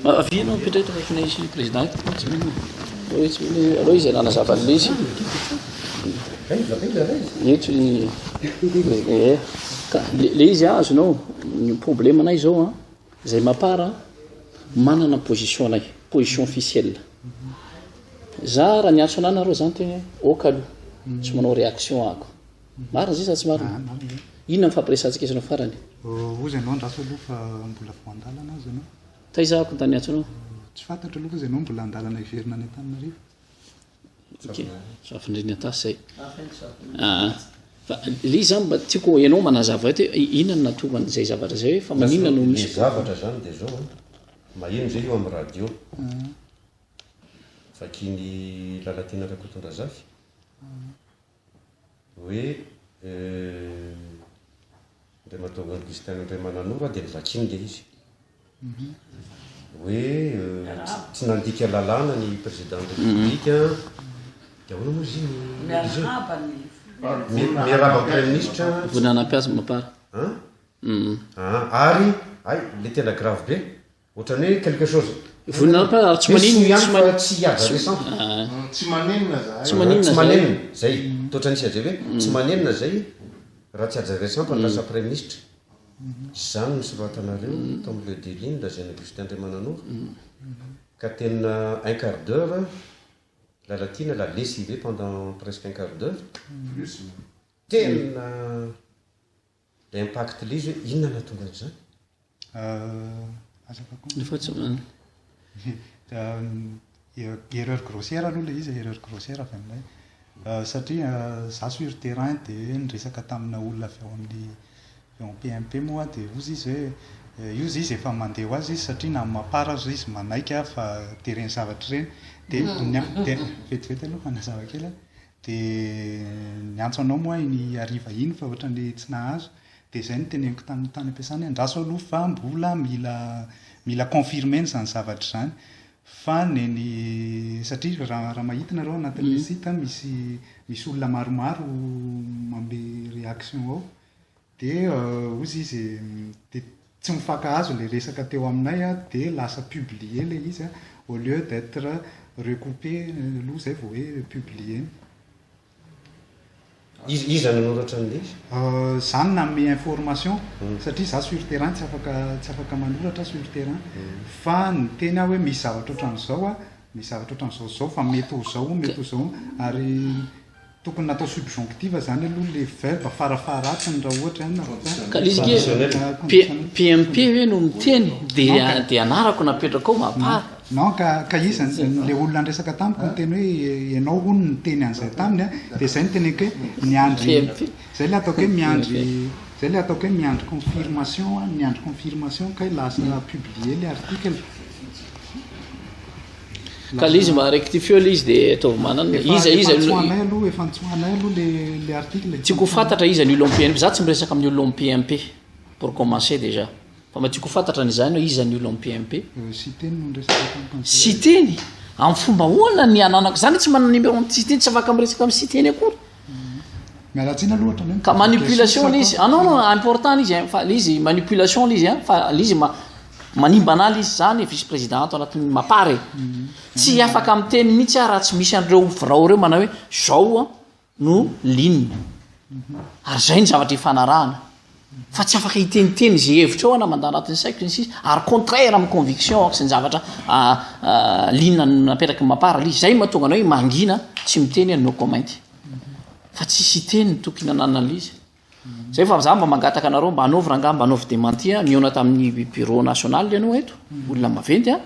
Avia ianao mipetra eto fa efa nisy président eto. Allo izy allo izy nanazava an'ilay izy. Eto i eh, ka le le izy azonao ny problème anay zao a. Zay ma part a, manana ny position anay, position officielle. Za raha niantso anah nareo zany teo hoe ok aloha, tsy manao reaction ako. Marina zay sa tsy marina? Inona ny fampiresahantsika izy no farany? Ozy anao andraso aloha fa mbola vao andalana ozy anao. Taiza ako ny tany niantso anao? Tsy fantatro aloha ozy anao mbola andalana hiverina any Antananarivo. Fafindrina tasy zay. Ah, fa le izy zany mba tiako ianao manazava eto hoe inona no natorany izay zavatra izay hoe fa maninona no misy. Ny zavatra zany dia zao an, maheno zay eo amin'ny radio. Vakin'i Lalatiana Rakotondrazafy. hoe Andriamatoa Augustin Andriamananova dia novakiany ilay izy hoe tsy nandika lalàna ny président de république dia ahoana moa izy miarahaba ny miarahaba ny praiministra voninanampiazo mapara ary ay le tena grave be Ohatran'ny hoe quelque chose. Vonona ampa ary tsy maninona. Tsy miampy fa tsy hihaja récent. Tsy manenina zahay. Tsy manenina zahay. Tsy manenina zay. Totra nisy haja hoe tsy manenina zay raha tsy haja récent fa ny lasa praiminisitra. Izany no nosoratanareo tao amin'ny Le Daily-ny lazain'i Augustin Andriamananoro. Ka tena un quart d'heure Lalatiana l'a lessivé pendant presque un quart d'heure. Tena Ilay impact lise hoe inona no hahatonga an'izany? Aza vakoina. Efa tsy mahay. Erreur grossière aloha ilay izy, erreur grossière avy aminay. Satria izaho sur terrain dia niresaka tamina olona avy ao amin'ny avy ao PMP moa aho dia hozy izy hoe io izy efa mandeha ho azy izy satria na amin'ny maha part aza izy manaiky fa dia ireny zavatra ireny dia ny an, dia vetivety aloha manazava kely aho, Dia niantso anao moa aho iny hariva iny fa ohatran'ny tsy nahazo. Dia izay no teneniko tamin'ny tany am-piasana hoe andraso aloha fa mbola mila mila confirmer-na izany zavatra izany fa neny satria raha raha mahita nareo anatin'ilay site misy misy olona maromaro manome réaction ao. Dia ozy izy dia tsy mifankahazo ilay resaka teo aminay a, dia lasa publier ilay izy a, au lieu d'etre recoupé aloha izay vao hoe publier-na. Iza iza no nanoratra an'ilay izy? Izaho no nanome information satria izaho sur terrain tsy afaka tsy afaka manoratra aho sur terrain. Fa niteny aho hoe misy zavatra ohatran'izao a, misy zavatra ohatran'izao zao fa mety ho izao mety ho izao ary. Tokony natao subjonctif zany aloha le verbe fara faharatsiny raha ohatra na PMP hoe no miteny dia dia anarako napetrako ao mapara. Non ka ka iza le olona andresaka tamiko miteny hoe ianao hono niteny an'izay taminy a dia izay niteny hoe miandry izay le ataoko hoe miandry izay le ataoko hoe miandry confirmation a miandry confirmation kay lasa publier le article. Ka le izy mba rectifieo le izy dia ataovy manana e. Iza iza no. Efa antsoinay aloha, efa antsoinay aloha le le article e. Tiako ho fantatra iza ny olom PMP. Za tsy miresaka amin'ny olom PMP pour commencer déjà. Fa mba tiako ho fantatra ny izany hoe iza ny olom PMP. Siteny no niresaka tamiko. Siteny? Amin'ny fomba ahoana ny ananako? Za anie tsy manana numéro an'i Siteny, tsy afaka miresaka amin'i Siteny akory. ka manipulation lay izy ah non non important lay izy fa lay izy manipulation lay izy a fa lay izy ma- manimba anah lay izy za ny vice président ato anatin'ny mapar e tsy afaka miteny mihitsy aho raha tsy misy an'ireo birao ireo manao hoe zao a no ligne ary zay ny zavatra ifanarahana fa tsy afaka hiteniteny izay hevitra ao na mandà anatin'ny saiko sy ny sisa ary contraire amin'ny conviction ako sy ny zavatra liana napetraky ny mapara li izay mahatonga anao hoe mangina tsy miteny aho no comment fa tsy sy teny ny tokony nananalyse zay fa za mba mangataka anareo mba anaovy rangah mba anaovy demantia nihaona tamin'ny bureau national ianao eto olona maventy a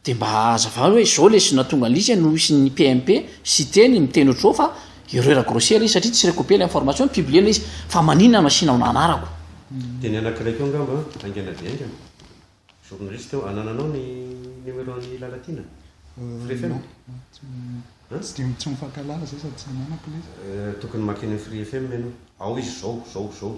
Dia mba hazavao hoe zao lesy nahatonga an'lise no hisy ny PMP, Siteny, miteny ohatr'izao fa erreur grossière izy satria tsy recoupé ilay information, publier-na izy. Fa maninona no asianao ny anarako? Dia ny anankiray koa angamba an, haingana dia haingana. Journaliste eo, anananao ny numéro an'i Lalatiana? Free FM? An? Tsy dia tsy mifankahalala zay sady tsy ananako lesy. Tokony makeny amin'ny Free FM ianao. Ao izy zao, zao, zao.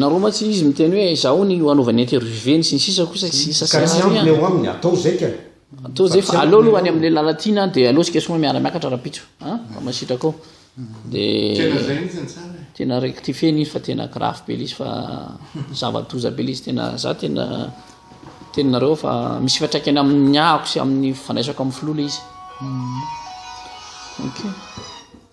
nareo ma tsy izy miteny hoe zaho ny hanaovany intervieweny sy ny sisa kosa tsy sisa ka tsy ampy eo aminy atao zay ka atao zay fa aleo aloha any amin'ny lala tiana dia aleo sika soma miara miakatra rapitso a fa masitraka ao dia tena rectifier ny izy fa tena grave be izy fa zava-doza be izy tena za tena tena nareo fa misy fiatraikany amin'ny ahako sy amin'ny fandraisako amin'ny filoha le izy ok